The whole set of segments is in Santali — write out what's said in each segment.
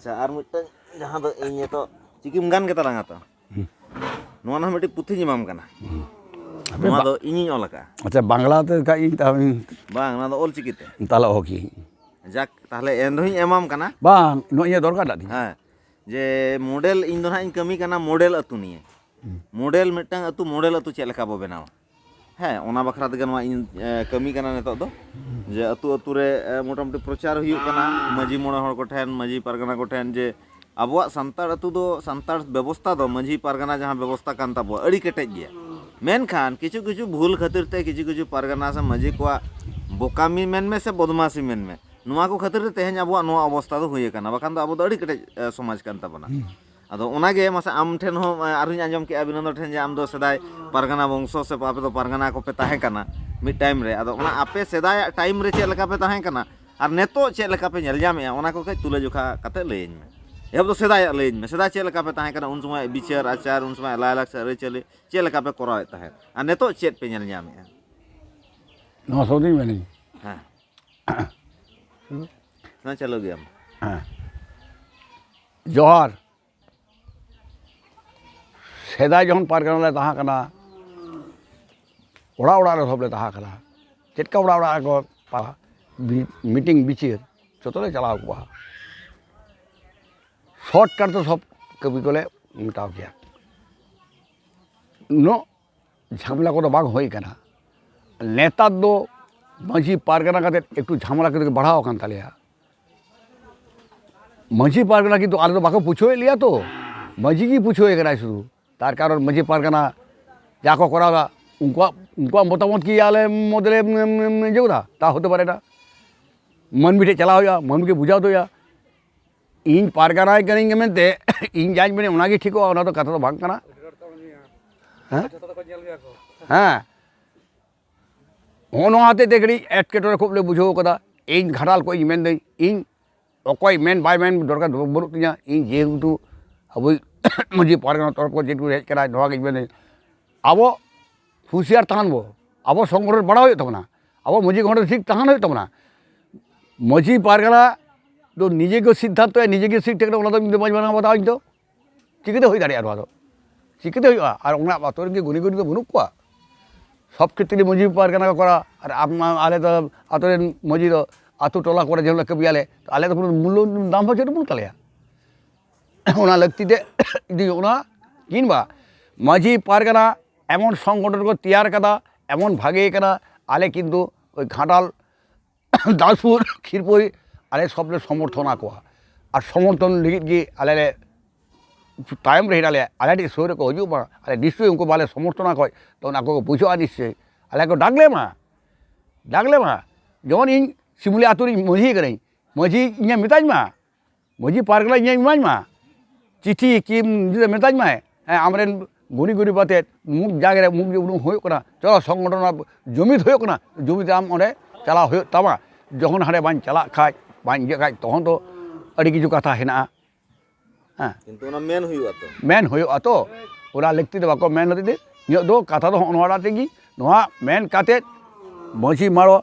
ᱟᱪᱪᱷᱟ ᱟᱨ ᱢᱤᱫᱴᱟᱝ ᱡᱟᱦᱟᱸ ᱫᱚ ᱤᱧ ᱱᱤᱛᱚᱜ ᱪᱤᱠᱤᱢ ᱜᱟᱱ ᱜᱮ ᱛᱟᱞᱟᱝᱟ ᱛᱚ ᱱᱚᱣᱟ ᱱᱟᱦᱟᱜ ᱢᱤᱫᱴᱤᱡ ᱯᱩᱛᱷᱤᱧ ᱮᱢᱟᱢ ᱠᱟᱱᱟ ᱱᱚᱣᱟ ᱫᱚ ᱤᱧᱤᱧ ᱚᱞ ᱟᱠᱟᱫᱼᱟ ᱟᱪᱪᱷᱟ ᱵᱟᱝᱞᱟ ᱛᱮ ᱠᱷᱟᱡ ᱤᱧ ᱛᱟᱦᱚᱞᱮ ᱵᱟᱝ ᱱᱚᱣᱟ ᱫᱚ ᱚᱞ ᱪᱤᱠᱤ ᱛᱮ ᱛᱟᱦᱚᱞᱮ ᱚᱦᱚ ᱠᱤᱭᱟᱹᱧ ᱡᱟᱠ ᱛᱟᱦᱚᱞᱮ ᱮᱱ ᱨᱮᱦᱚᱸᱧ ᱮᱢᱟᱢ ᱠᱟᱱᱟ ᱵᱟᱝ ᱱᱚᱜᱼᱚᱭ ᱤᱧᱟᱹᱜ ᱫᱚᱨᱠᱟᱨ ᱴᱟᱜ ᱛᱤᱧ ᱦᱮᱸ ᱡᱮ ᱢᱚᱰᱮᱞ ᱤᱧ ᱫᱚ ᱱᱟᱦᱟᱜ ᱤᱧ ᱠᱟᱹᱢᱤ ᱠᱟᱱᱟ ᱢᱚᱰᱮᱞ ᱟᱹᱛᱩ ᱱᱤᱭᱮ ᱢᱚᱰᱮᱞ ᱢᱤᱫᱴᱟᱝ ᱟᱹᱛᱩ ᱢᱚᱰᱮᱞ ᱟᱹᱛᱩ ᱪᱮᱫ ᱞᱮᱠᱟ ᱵᱚ ᱵᱮᱱᱟᱣᱟ ᱦᱮᱸ ᱚᱱᱟ ᱵᱟᱠᱷᱨᱟ ᱛᱮᱜᱮ ᱱᱚᱣᱟ ᱤᱧ ᱠᱟᱹᱢᱤ ᱠᱟᱱᱟ ᱱᱤᱛᱚᱜ ᱫᱚ ᱡᱮ ᱟᱹᱛᱩ ᱟᱹᱛᱩ ᱨᱮ ᱢᱚᱴᱟᱢᱩᱴᱤ ᱯᱨᱚᱪᱟᱨ ᱦᱩᱭᱩᱜ ᱠᱟᱱᱟ ᱢᱟᱺᱡᱷᱤ ᱢᱚᱬᱮ ᱦᱚᱲ ᱠᱚᱴᱷᱮᱱ ᱢᱟᱺᱡᱷᱤ ᱯᱟᱨᱜᱟᱱᱟ ᱠᱚᱴᱷᱮᱱ ᱡᱮ ᱟᱵᱚᱣᱟᱜ ᱥᱟᱱᱛᱟᱲ ᱟᱹᱛᱩ ᱫᱚ ᱥᱟᱱᱛᱟᱲ ᱵᱮᱵᱚᱥᱛᱷᱟ ᱫᱚ ᱢᱟᱺᱡᱷᱤ ᱯᱟᱨᱜᱟᱱᱟ ᱡᱟᱦᱟᱸ ᱵᱮᱵᱚᱥᱛᱷᱟ ᱠᱟᱱ ᱛᱟᱵᱚᱣᱟ ᱟᱹᱰᱤ ᱠᱮᱴᱮᱡ ᱜᱮᱭᱟ ᱢᱮᱱᱠᱷᱟᱱ ᱠᱤᱪᱷᱩ ᱠᱤᱪᱷᱩ ᱵᱷᱩᱞ ᱠᱷᱟᱹᱛᱤᱨ ᱛᱮ ᱠᱤᱪᱷᱩ ᱠᱤᱪᱷᱩ ᱯᱟᱨᱜᱟᱱᱟ ᱥᱮ ᱢᱟᱺᱡᱷᱤ ᱠᱚᱣᱟᱜ ᱵᱚᱠᱟᱢᱤ ᱢᱮᱱᱢᱮ ᱥᱮ ᱵᱚᱫᱢᱟᱥᱤ ᱢᱮᱱᱢᱮ ᱱᱚᱣᱟ ᱠᱚ ᱠᱷᱟᱹᱛᱤᱨ ᱛᱮ ᱛᱮᱦᱮᱧ ᱟᱵᱚᱣᱟᱜ ᱱᱚᱣᱟ ᱚᱵᱚᱥᱛᱷᱟ ᱫᱚ ᱦᱩᱭ ᱟᱠᱟᱱᱟ ᱵᱟᱠᱷᱟᱱ ᱫᱚ ᱟᱵᱚ ᱫᱚ ᱟᱹᱰᱤ ᱠᱮᱴᱮᱡ ᱥᱚᱢᱟᱡᱽ ᱠᱟᱱ ᱛᱟᱵᱚᱱᱟ ᱟᱫᱚ ᱚᱱᱟᱜᱮ ᱢᱟᱥᱮ ᱟᱢ ᱴᱷᱮᱱ ᱦᱚᱸ ᱟᱨᱦᱚᱸᱧ ᱟᱸᱡᱚᱢ ᱠᱮᱜᱼᱟ ᱵᱤᱱᱚᱱᱫᱚ ᱴᱷᱮᱱ ᱡᱮ ᱟᱢ ᱫᱚ ᱥᱮᱫᱟᱭ ᱯᱟᱨᱜᱟᱱᱟ ᱵᱚᱝᱥᱚ ᱥᱮ ᱟᱯᱮ ᱫᱚ ᱯᱟᱨᱜᱟᱱᱟ ᱠᱚᱯᱮ ᱛᱟᱦᱮᱸ ᱠᱟᱱᱟ ᱢᱤᱫ ᱴᱟᱭᱤᱢ ᱨᱮ ᱟᱫᱚ ᱚᱱᱟ ᱟᱯᱮ ᱥᱮᱫᱟᱭᱟᱜ ᱴᱟᱭᱤᱢ ᱨᱮ ᱪᱮᱫ ᱞᱮᱠᱟ ᱯᱮ ᱛᱟᱦᱮᱸ ᱠᱟᱱᱟ ᱟᱨ ᱱᱤᱛᱚᱜ ᱪᱮᱫ ᱞᱮᱠᱟ ᱯᱮ ᱧᱮᱞ ᱧᱟᱢᱮᱜᱼᱟ ᱚᱱᱟ ᱠᱚ ᱠᱟᱹᱡ ᱛᱩᱞᱟᱹ ᱡᱚᱠᱷᱟ ᱠᱟᱛᱮ ᱞᱟᱹᱭᱟᱹᱧ ᱢᱮ ᱮᱦᱚᱵ ᱫᱚ ᱥᱮᱫᱟᱭᱟᱜ ᱞᱟᱹᱭᱟᱹᱧ ᱢᱮ ᱥᱮᱫᱟᱭ ᱪᱮᱫ ᱞᱮᱠᱟ ᱯᱮ ᱛᱟᱦᱮᱸ ᱠᱟᱱᱟ ᱩᱱ ᱥᱚᱢᱚᱭ ᱵᱤᱪᱟᱹᱨ ᱟᱪᱟᱨ ᱩᱱ ᱥᱚᱢᱚᱭ ᱞᱟᱭᱼᱞᱟᱠᱪᱟᱨ ᱟᱹᱨᱤᱪᱟᱹᱞᱤ ᱪᱮᱫ ᱞᱮᱠᱟ ᱯᱮ ᱠᱚᱨᱟᱣᱮᱫ ᱛᱟᱦᱮᱸᱫ ᱟᱨ ᱱᱤᱛᱚᱜ ᱪᱮᱫ ᱯᱮ ᱧᱮᱞ ᱧᱟᱢᱮᱜᱼᱟ ᱱᱚᱣᱟ ᱥᱚ ᱫᱤᱱ ᱢᱮᱱᱟᱹᱧ ᱦᱮᱸ ᱪᱟᱹᱞᱩ ᱜᱮᱭᱟᱢ ᱦᱮᱸ ᱡᱚᱦᱟᱨ ᱥᱮᱫᱟᱭ ᱡᱚᱠᱷᱚᱱ ᱯᱟᱨᱜᱟᱱᱟ ᱞᱮ ᱛᱟᱦᱮᱸ ᱠᱟᱱᱟ ᱚᱲᱟᱜ ᱚᱲᱟᱜ ᱨᱮ ᱥᱚᱵ ᱞᱮ ᱛᱟᱦᱮᱸ ᱠᱟᱱᱟ ᱪᱮᱫ ᱞᱮᱠᱟ ᱚᱲᱟᱜ ᱚᱲᱟᱜ ᱨᱮᱠᱚ ᱯᱟᱲᱦᱟᱜ ᱢᱤᱴᱤᱝ ᱵᱤᱪᱟᱹᱨ ᱡᱚᱛᱚ ᱞᱮ ᱪᱟᱞᱟᱣ ᱠᱚᱜᱼᱟ ᱥᱚᱨᱴᱠᱟᱴ ᱫᱚ ᱥᱚᱵ ᱠᱟᱹᱢᱤ ᱠᱚᱞᱮ ᱢᱮᱴᱟᱣ ᱠᱮᱭᱟ ᱩᱱᱟᱹᱜ ᱡᱷᱟᱢᱮᱞᱟ ᱠᱚᱫᱚ ᱵᱟᱝ ᱦᱩᱭ ᱠᱟᱱᱟ ᱱᱮᱛᱟᱨ ᱫᱚ ᱢᱟᱺᱡᱷᱤ ᱯᱟᱨᱜᱟᱱᱟ ᱠᱟᱛᱮ ᱮᱠᱴᱩ ᱡᱷᱟᱢᱮᱞᱟ ᱠᱟᱛᱮ ᱵᱟᱲᱦᱟᱣ ᱟᱠᱟᱱ ᱛᱟᱞᱮᱭᱟ ᱢᱟᱺᱡᱷᱤ ᱯᱟᱨᱜᱟᱱᱟ ᱠᱤᱱᱛᱩ ᱟᱞᱮ ᱫᱚ ᱵᱟᱠᱚ ᱯᱩᱪᱷᱟᱹᱣᱮᱫ ᱞᱮᱭᱟ ᱛᱚ ᱢᱟᱺᱡᱷᱤ ᱜᱮ ᱯᱩᱪᱷᱟᱹᱣᱮ ᱠᱟᱱᱟᱭ ᱥᱩᱫᱷᱩ ᱛᱟᱨ ᱠᱟᱨᱚᱱ ᱢᱟᱺᱡᱷᱤ ᱯᱟᱨᱜᱟᱱᱟ ᱡᱟ ᱠᱚ ᱠᱚᱨᱟᱣᱫᱟ ᱩᱱᱠᱩᱣᱟᱜ ᱩᱱᱠᱩᱣᱟᱜ ᱢᱚᱛᱟᱢᱚᱛ ᱠᱤ ᱟᱞᱮ ᱢᱚᱫᱽᱫᱷᱮ ᱨᱮ ᱤᱭᱟᱹᱣᱫᱟ ᱛᱟ ᱦᱚᱛᱮ ᱯᱟᱨᱮ ᱱᱟ ᱢᱟᱹᱱᱢᱤ ᱴᱷᱮᱡ ᱪᱟᱞᱟᱣ ᱦᱩᱭᱩᱜᱼᱟ ᱢᱟᱹᱱᱢᱤ ᱜᱮ ᱵᱩᱡᱷᱟᱹᱣ ᱦᱚᱴᱚ ᱦᱩᱭᱩᱜᱼᱟ ᱤᱧ ᱯᱟᱨᱜᱟᱱᱟᱭ ᱠᱟᱹᱱᱟᱹᱧ ᱢᱮᱱᱛᱮ ᱤᱧ ᱡᱟᱧ ᱢᱮᱱᱟ ᱚᱱᱟᱜᱮ ᱴᱷᱤᱠᱚᱜᱼᱟ ᱚᱱᱟ ᱫᱚ ᱠᱟᱛᱷᱟ ᱫᱚ ᱵᱟᱝ ᱠᱟᱱᱟ ᱦᱮᱸ ᱦᱮᱸ ᱦᱚᱸᱜᱼᱚ ᱱᱚᱣᱟ ᱦᱚᱛᱮᱡ ᱛᱮ ᱠᱟᱹᱴᱤᱡ ᱮᱴᱠᱮᱴᱚᱬᱮ ᱠᱷᱩᱵ ᱞᱮ ᱵᱩᱡᱷᱟᱹᱣ ᱠᱟᱫᱟ ᱤᱧ ᱜᱷᱟᱴᱟᱞ ᱠᱷᱚᱡ ᱤᱧ ᱢᱮᱱᱫᱟᱹᱧ ᱤᱧ ᱚᱠᱚᱭ ᱢᱮᱱ ᱵᱟᱭ ᱢᱮᱱ ᱫᱚᱨᱠᱟᱨ ᱵᱟᱹᱱᱩᱜ ᱛᱤᱧᱟ ᱤᱧ ᱡᱮᱦᱮᱛᱩ ᱟᱵᱚᱭᱤᱡ ᱢᱟᱺᱡᱷᱤ ᱯᱟᱨᱜᱟᱱᱟ ᱛᱚᱨᱚᱯ ᱠᱷᱚᱱ ᱡᱮᱴᱩᱠᱩ ᱦᱮᱡ ᱠᱟᱱᱟ ᱱᱚᱣᱟᱜᱤᱧ ᱢᱮᱱᱫᱟᱹᱧ ᱟᱵᱚ ᱦᱩᱥᱭᱟᱨ ᱛᱟᱦᱮᱱ ᱵᱚ ᱟᱵᱚ ᱥᱚᱝᱜᱚᱴᱷᱚᱱ ᱵᱟᱲᱟᱭ ᱦᱩᱭᱩᱜ ᱛᱟᱵᱚᱱᱟ ᱟᱵᱚ ᱢᱟᱹᱡᱷᱤ ᱜᱚᱰᱮᱛ ᱴᱷᱤᱠ ᱛᱟᱦᱮᱱ ᱦᱩᱭᱩᱜ ᱛᱟᱵᱚᱱᱟ ᱢᱟᱹᱡᱷᱤ ᱯᱟᱨᱜᱟᱱᱟ ᱫᱚ ᱱᱤᱡᱮ ᱜᱮ ᱥᱤᱫᱽᱫᱷᱟᱱᱛᱚᱭᱟ ᱱᱤᱡᱮ ᱜᱮ ᱥᱤᱫᱽᱫᱷᱟᱱᱛᱚᱭᱟ ᱴᱷᱤᱠ ᱴᱷᱟᱠ ᱚᱱᱟ ᱫᱚ ᱤᱧ ᱫᱚ ᱵᱟᱹᱧ ᱢᱟᱱᱟᱣ ᱵᱟᱛᱟᱣᱟ ᱤᱧ ᱫᱚ ᱪᱤᱠᱟᱹᱛᱮ ᱦᱩᱭ ᱫᱟᱲᱮᱭᱟᱜᱼᱟ ᱱᱚᱣᱟ ᱫᱚ ᱪᱤᱠᱟᱹᱛᱮ ᱦᱩᱭᱩᱜᱼᱟ ᱟᱨ ᱚᱱᱟ ᱟᱹᱛᱩ ᱨᱮᱱ ᱠᱤ ᱜᱩᱱᱤ ᱜᱩᱨᱤᱵᱽ ᱫᱚ ᱵᱟᱹᱱᱩᱜ ᱠᱚᱣᱟ ᱥᱚᱵᱽ ᱠᱷᱮᱛᱨᱮ ᱢᱟᱹᱡᱷᱤ ᱯᱟᱨᱜᱟᱱᱟ ᱠᱚ ᱠᱚᱨᱟᱣᱟ ᱟᱨ ᱟᱞᱮ ᱫᱚ ᱟᱹᱛᱩ ᱨᱮᱱ ᱢᱟᱹᱡᱷᱤ ᱫᱚ ᱟᱹᱛᱩ ᱴᱚᱞᱟ ᱠᱚᱨᱮ ᱡᱮ ᱦᱤᱞᱳᱜ ᱠᱟᱹᱢᱤᱭᱟᱞᱮ ᱟᱞᱮ ᱫᱚ ᱠᱳᱱᱳ ᱢᱩᱞᱞᱚ ᱫᱟᱢ ᱦᱚᱸ ᱵᱟᱹᱱᱩᱜ ᱛᱟᱞᱮᱭᱟ ᱚᱱᱟ ᱞᱟᱹᱠᱛᱤ ᱛᱮ ᱡᱩᱫᱤ ᱚᱱᱟ ᱠᱤᱢᱵᱟ ᱢᱟᱹᱡᱷᱤ ᱯᱟᱨᱜᱟᱱᱟ ᱮᱢᱚᱱ ᱥᱚᱝᱜᱚᱴᱷᱚᱱ ᱠᱚ ᱛᱮᱭᱟᱨ ᱠᱟᱫᱟ ᱮᱢᱚᱱ ᱵᱷᱟᱜᱮ ᱠᱟᱱᱟ ᱟᱞᱮ ᱠᱤᱱᱛᱩ ᱳᱭ ᱜᱷᱟᱴᱟᱞ ᱫᱟᱥᱯᱩᱨ ᱠᱷᱤᱨᱯᱩᱨ ᱟᱞᱮ ᱥᱚᱵ ᱞᱮ ᱥᱚᱢᱚᱨᱛᱷᱚᱱ ᱟᱠᱚᱣᱟ ᱟᱨ ᱥᱚᱢᱚᱨᱛᱷᱚᱱ ᱞᱟᱹᱜᱤᱫ ᱜᱮ ᱟᱞᱮ ᱞᱮ ᱛᱟᱭᱚᱢ ᱨᱮ ᱦᱮᱱᱟᱜ ᱞᱮᱭᱟ ᱟᱞᱮ ᱴᱷᱮᱱ ᱥᱩᱨ ᱨᱮᱠᱚ ᱦᱤᱡᱩᱜ ᱢᱟ ᱟᱞᱮ ᱱᱤᱥᱪᱚᱭ ᱩᱱᱠᱩ ᱵᱟᱞᱮ ᱥᱚᱢᱚᱨᱛᱷᱚᱱ ᱟᱠᱚᱣᱟ ᱛᱚ ᱚᱱᱟ ᱠᱚ ᱵᱩᱡᱷᱟᱹᱜᱼᱟ ᱱᱤᱥᱪᱚᱭ ᱟᱞᱮ ᱠᱚ ᱰᱟᱠ ᱞᱮᱢᱟ ᱰᱟᱠ ᱞᱮᱢᱟ ᱡᱮᱢᱚᱱ ᱤᱧ ᱥᱤᱢᱩᱞᱤ ᱟᱛᱳ ᱨᱤᱱᱤᱡ ᱢᱟᱹᱡᱷᱤ ᱠᱟᱹᱱᱟᱹᱧ ᱢᱟᱹᱡᱷᱤ ᱤᱧᱮ ᱢᱮᱛᱟᱹᱧ ᱢᱟ ᱢᱟᱹᱡᱷᱤ ᱯᱟᱨᱜᱟᱱᱟ ᱤᱧᱮ ᱤᱢᱟᱹᱧ ᱢᱟ ᱪᱤᱴᱷᱤ ᱠᱤ ᱢᱮᱛᱟᱹᱧ ᱢᱟᱭ ᱦᱮᱸ ᱟᱢᱨᱮᱱ ᱜᱩᱱᱤ ᱜᱩᱨᱤᱵ ᱟᱛᱮᱫ ᱢᱩᱠ ᱡᱟᱜᱽᱨᱮ ᱢᱩᱠ ᱩᱰᱩᱠ ᱦᱩᱭᱩᱜ ᱠᱟᱱᱟ ᱪᱚᱞᱚ ᱥᱚᱝᱜᱚᱴᱷᱚᱱ ᱟᱵᱚ ᱡᱩᱢᱤᱫ ᱦᱩᱭᱩᱜ ᱠᱟᱱᱟ ᱡᱩᱢᱤᱫ ᱟᱢ ᱚᱸᱰᱮ ᱪᱟᱞᱟᱣ ᱦᱩᱭᱩᱜ ᱛᱟᱢᱟ ᱡᱚᱠᱷᱚᱱ ᱦᱟᱸᱰᱮ ᱵᱟᱹᱧ ᱪᱟᱞᱟᱜ ᱠᱷᱟᱡ ᱵᱟᱹᱧ ᱤᱭᱟᱹᱜ ᱠᱷᱟᱡ ᱛᱚᱠᱷᱚᱱ ᱫᱚ ᱟᱹᱰᱤ ᱠᱤᱪᱷᱩ ᱠᱟᱛᱷᱟ ᱦᱮᱱᱟᱜᱼᱟ ᱦᱮᱸ ᱠᱤᱱᱛᱩ ᱚᱱᱟ ᱢᱮᱱ ᱦᱩᱭᱩᱜᱼᱟ ᱛᱚ ᱢᱮᱱ ᱦᱩᱭᱩᱜᱼᱟ ᱛᱚ ᱚᱱᱟ ᱞᱟᱹᱠᱛᱤ ᱫᱚ ᱵᱟᱠᱚ ᱢᱮᱱ ᱦᱚᱛᱮᱡ ᱛᱮ ᱤᱧᱟᱹᱜ ᱫᱚ ᱠᱟᱛᱷᱟ ᱫᱚ ᱦᱚᱸᱜᱼᱚ ᱱᱚᱣᱟᱴᱟᱜ ᱛᱮᱜᱮ ᱱᱚᱣᱟ ᱢᱮᱱ ᱠᱟᱛᱮᱫ ᱢᱟᱹᱡᱷᱤ ᱢᱟᱲᱚᱣᱟ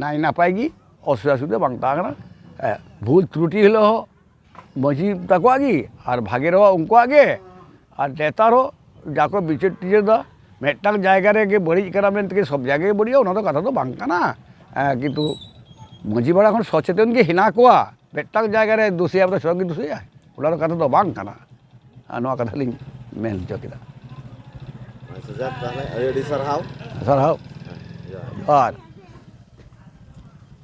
ᱱᱟᱭ ᱱᱟᱯᱟᱭ ᱜᱮ ᱚᱥᱩᱵᱤᱫᱟ ᱥᱩᱵᱤᱫᱟ ᱵᱟᱝ ᱛᱟᱦᱮᱸ ᱠᱟᱱᱟ ᱦᱮᱸ ᱵᱷᱩᱞ ᱛᱨᱩᱴᱤ ᱦᱤᱞᱳᱜ ᱦᱚᱸ ᱢᱟᱹᱡᱷᱤ ᱛᱟᱠᱚᱣᱟᱜ ᱜᱮ ᱟᱨ ᱵᱷᱟᱜᱮ ᱨᱮᱦᱚᱸ ᱩᱱᱠᱩᱣᱟᱜ ᱜᱮ ᱟᱨ ᱱᱮᱛᱟᱨ ᱦᱚᱸ ᱡᱟ ᱠᱚ ᱵᱤᱪᱟᱹᱨ ᱴᱤᱪᱟᱹᱨ ᱫᱟ ᱢᱤᱫᱴᱟᱝ ᱡᱟᱭᱜᱟ ᱨᱮᱜᱮ ᱵᱟᱹᱲᱤᱡ ᱠᱟᱱᱟ ᱢᱮᱱᱛᱮ ᱠᱤ ᱥᱚᱵᱽ ᱡᱟᱭᱜᱟ ᱜᱮ ᱵᱟᱹᱲᱤᱡᱚᱜᱼᱟ ᱚᱱᱟ ᱫᱚ ᱠᱟᱛᱷᱟ ᱫᱚ ᱵᱟᱝ ᱠᱟᱱᱟ ᱠᱤᱱᱛᱩ ᱢᱟᱹᱡᱷᱤ ᱯᱟᱲᱟ ᱠᱷᱚᱱ ᱥᱚᱪᱮᱛᱚᱱ ᱜᱮ ᱦᱮᱱᱟᱜ ᱠᱚᱣᱟ ᱢᱤᱫᱴᱟᱝ ᱡᱟᱭᱜᱟ ᱨᱮ ᱫᱩᱥᱤᱭᱟᱭ ᱢᱟᱱᱮ ᱥᱚᱵᱽ ᱜᱮ ᱫᱩᱥᱤᱭᱟᱭ ᱚᱱᱟ ᱫᱚ ᱠᱟᱛᱷᱟ ᱫᱚ ᱵᱟᱝ ᱠᱟᱱᱟ ᱟᱨ ᱱᱚᱣᱟ ᱠᱟᱛᱷᱟ ᱞᱤᱧ ᱢᱮᱱ ᱦᱚᱪᱚ ᱠᱮᱫᱟ ᱟᱪᱪᱷᱟ ᱡᱟᱠ ᱛᱟᱦᱚᱞᱮ ᱟᱹᱰᱤ ᱟᱹᱰᱤ ᱥᱟᱨᱦᱟᱣ ᱥᱟᱨᱦᱟᱣ ᱦᱮᱸ, ᱡᱚᱦᱟᱨ ᱟᱨ